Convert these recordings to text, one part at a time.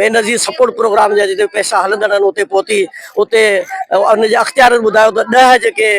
Benazir support programme جا جتي پئسا هلندڙ آهن اتي پهتي اتي ان جي اختيارين ٻڌايو ته ڏهه جيڪي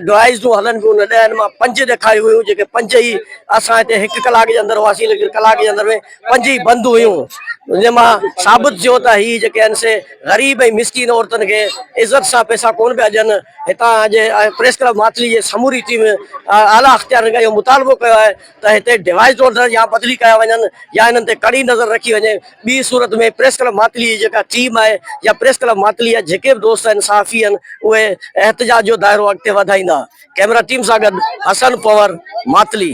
ڊوائيزون هلن پيون ان ڏهن مان پنج ڏيکاريون ويون جيڪي پنج ئي اسان هتي هڪ ڪلاڪ جي اندر هئاسين ليڪن ڪلاڪ جي اندر ۾ پنج ئي بند هيون جنهن مان ثابت ٿيو ته هي جيڪي آهن سي غريب ۽ مسڪين عورتن کي عزت سان پئسا ڪون پيا ڏين هتان جي پريس ڪلب ماٿلي جي سموري ٽيم اعليٰ اختيارين کان اهو مطالبو ڪيو آهي ته هتي ڊيوائيس ڊولڊر يا بدلي ڪيا وڃن يا انهن تي ڪڙي نظر رکي وڃي، ٻي صورت ۾ پريس ڪلب ماتلي جي جيڪا ٽيم آهي يا پريس ڪلب ماتلي جا جيڪي به دوست آهن صحافي آهن اهي احتجاج جو دائرو اڳتي وڌائيندا. ڪيمرا ٽيم سان گڏ حسن پنور ماتلي.